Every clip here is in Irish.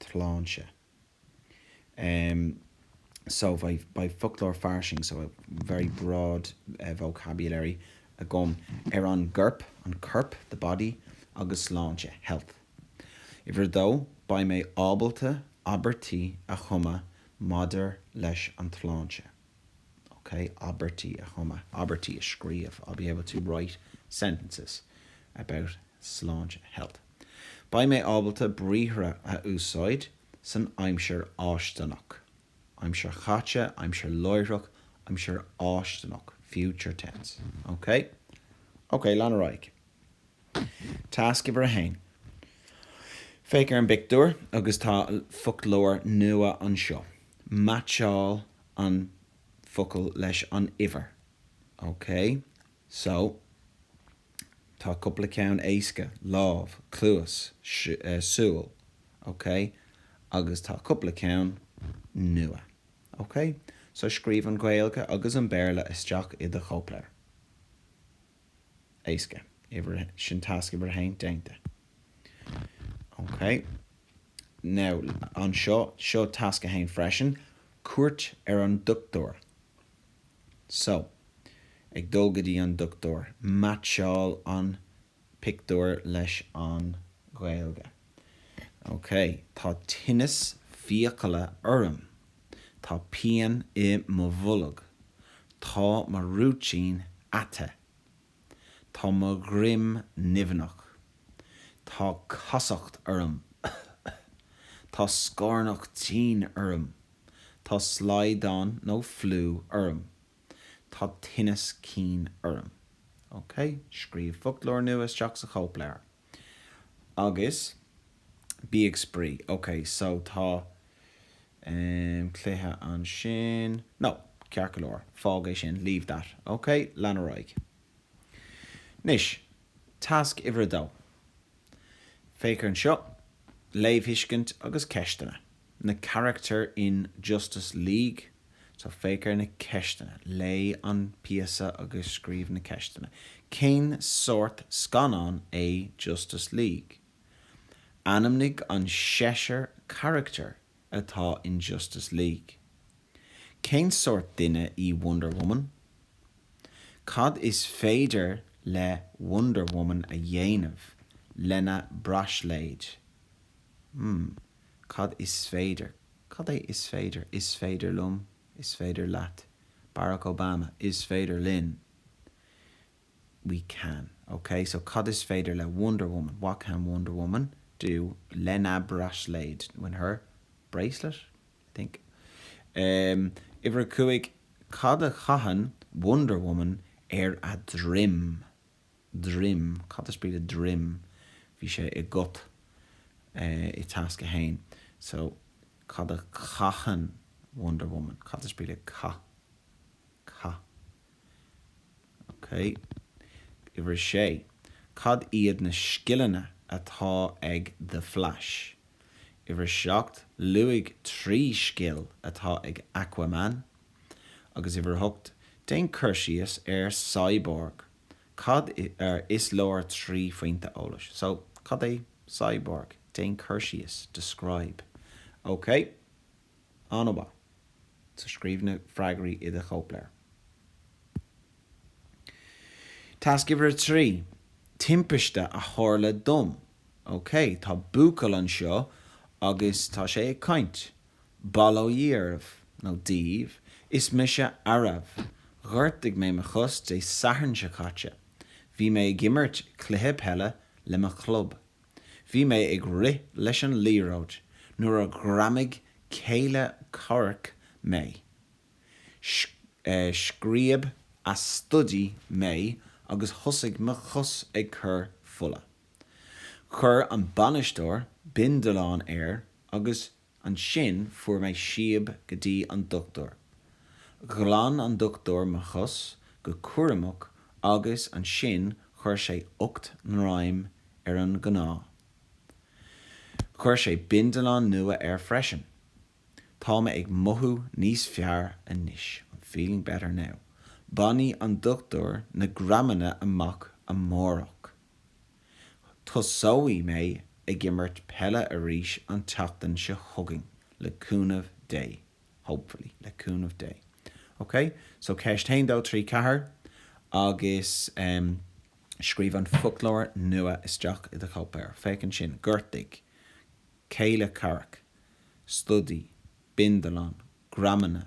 tsláinte. Em, so beidh foclóir fairsing, so very broad vocabulary, agam ar an gcorp, an corp, the body, agus sláinte, health. Uimhir a dó, beidh mé ábalta abairtí a chumadh maidir leis an tsláinte. OK, abairtí a chumadh, abairtí a scríobh. I'll be able to write sentences about sláinte, health. Beidh mé ábalta briathra a úsáid san aimsir fháistineach, aimsir chaite, aimsir láithreach, aimsir fháistineach, future tense. OK? OK, lean ar aghaidh. Tasc uimhir a haon. Féach ar an bpictiúr agus tá foclóir nua anseo. Meaitseáil an focal leis an uimhir. OK? So. Tá cúpla ceann éasca, lámh, cluas, súil. OK? Agus tá cúpla ceann nua. OK? So scríobh an Ghaeilge agus an Béarla isteach i do chóipleabhar. éasca. Sin tasc uimhir a haon déanta. Ok. Now, anseo, seo tasc a haon freisin, cuairt ar an dochtúir. So, ag dul go dtí an dochtúir. Meaitseáil an pictiúr leis an Ghaeilge. OK. Tá tinneas fiacaile orm. Tá pian i mo bholg. Tá mo rúitín ata. Tá mo dhroim nimhneach. Tá casacht orm. Tá scornach tinn orm. Tá slaghdán nó fliú orm. Tá tinneas cinn orm. OK. Scríobh foclóir nua isteach sa chóipleabhar. Agus bí ag spraoi. Ok, so tá ehm cluiche ansin. No, ceart go leor, fág é sin, leave that, ok? Lean ar aghaidh. Anois, tasc uimhir a dó. Féach air anseo, léamhthuiscint agus ceisteanna. Na carachtair in Justice League. So féach ar na ceisteanna. Léigh an píosa agus scríobh na ceisteanna. Cén sórt scannáin é Justice League? Ainmnigh an seisear carachtar atá in Justice League. Cén sórt duine í Wonder Woman? Cad is féidir le Wonder Woman a dhéanamh lena braisléid? Hmm. Cad is féidir. Cad é is féidir? Is féidir liom. Is féidir leat. Barack Obama, Is féidir linn. We can. Ok, so cad is féidir le Wonder Woman? What can Wonder Woman do? Lena braisléid, when her bracelet, I think. Um, Uimhir a cúig, Cad a chaitheann Wonder Woman ar a droim? droim, cad is brí le droim? bhí sé i gCut. i tasc a haon. so cad a chaitheann Wonder Woman? cad is brí le caith? caith, ok uimhir a sé, cad iad na scileanna atá ag The Flash? uimhir a seacht, luaigh trí scil atá ag Aquaman. agus uimhir 8, déan cur síos ar Cyborg. Cad é, ar, is leor trí phointe eolais? So, cad é Cyborg? Déan cur síos, describe. OK. An-mhaith. So, scríobh na freagraí i do chóipleabhar. Tasc uimhir 3, timpiste a tharla dom. OK, tá buachaill anseo agus tá sé ag caint. Bail ó Dhia oraibh, nó daoibh, is mise Aarav. Ghortaigh mé mo chos Dé Sathairn seo caite. Bhí mé ag imirt cluiche peile le mo chlub. Bhí mé ag rith leis an liathróid nuair a ghreamaigh céile comhraic mé. Scríob a stodaí mé agus thosaigh mo chos ag cur fola. Chuir an bainisteoir bindealán air Agus ansin fuair mé síob go dtí an dochtúir. Ghlan an dochtúir mo chos go cúramach agus ansin chuir sé ocht ngreim ar an gcneá. Chuir sé bindealán nua air freisin. Tá mé ag mothú níos fearr anois, I'm feeling better now. Bainfidh an dochtúir na greamanna amach amárach. Tosóidh mé ag imirt peile arís an tseachtain seo chugainn, le cúnamh Dé. Hopefully, le cúnamh Dé. Ok? So, ceist haon dó trí ceathair agus em scríobh an foclóir nua isteach i do chóipleabhar. Féach ansin, gortaigh, céile comhraic, stodaí, bindealán, greamanna,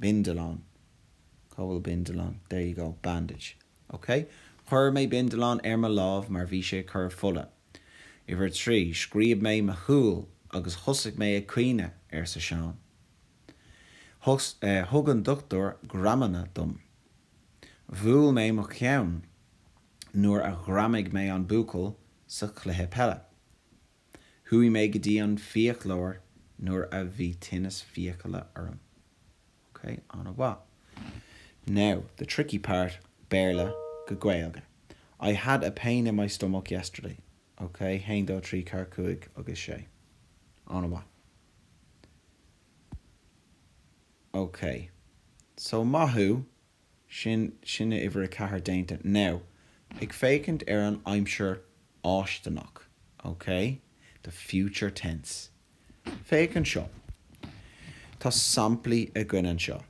bindealán, Cá bhfuil bindealán? There you go, bandage, OK Chuir mé bindealán ar mo lámh mar bhí sé ag cur fola. Uimhir 3, Scríob mé mo shúil agus thosaigh mé ag caoineadh, arsa Seán. Thus, eh, thug an dochtúir greamanna dom. Bhuail mé mo cheann nuair a ghreamaigh mé an buachaill sa chluiche peile. Chuaigh mé go dtí an fiaclóir nuair a bhí tinneas fiacaile orm. Ok, an-mhaith. Now, the tricky part, Béarla go Gaeilge, I had a pain in my stomach yesterday. Ok, haon, dó, trí, ceathair, cúig agus sé. An-mhaith. Ok, so maith thú. Sin, sin uimhir a ceathair déanta. Now, ag féachaint ar an aimsir fháistineach, ok? The future tense. Féach anseo. Tá samplaí againn anseo.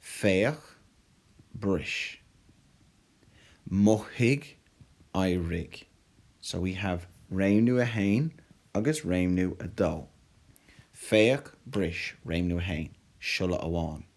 Féach, bris. Mothaigh, éirigh. So we have réimniú a haon agus réimniú a dó. Féach, bris, réimniú a haon, siolla amháin.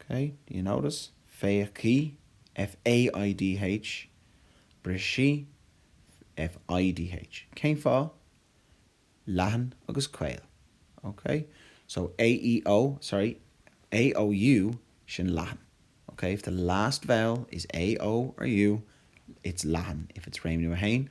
OK, do you notice? féachfaidh, f-a-i-d-h, brisfidh, f-i-d-h. Cén fáth? leathan agus caol. OK? So, a-e-i-o, sorry, a-o-u, sin leathan. OK? If the last vowel is a, o or u, it's leathan, if it's réimniú a haon.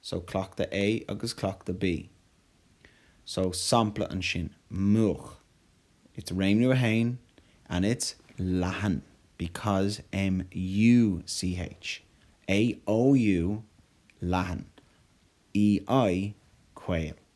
So cleachtadh A agus cleachtadh B. So sampla ansin, múch. It's réimniú a haon and it's leathan because MU CH. AOU leathan. EI caol.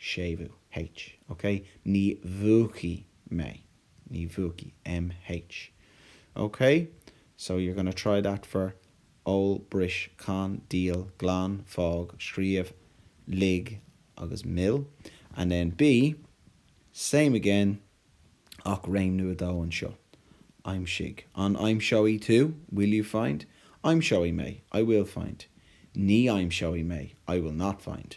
séimhiú, H. Ok, ní mhúchfaidh mé, ní mhúchfaidh, MH. Ok, so you're going to try that for ól, bris, can, díol, glan, fág, scríobh, lig agus mill. And then B, same again, ach réimniú a dó anseo, aimsigh, an aimseoidh tú, will you find? aimseoidh mé, I will find, ní aimseoidh mé, I will not find.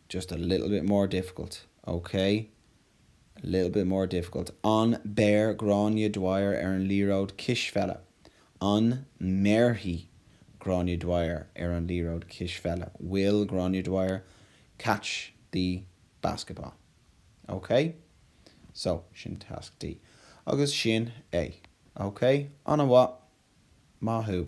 just a little bit more difficult, OK a little bit more difficult an beir Gráinne Dwyer ar an liathróid cispheile? an mbéarfaidh Gráinne Dwyer ar an liathróid cispheile? will Gráinne Dwyer catch the basketball? OK? So, sin Tasc D. Agus sin é. OK? Ana mhaith. Maith thú.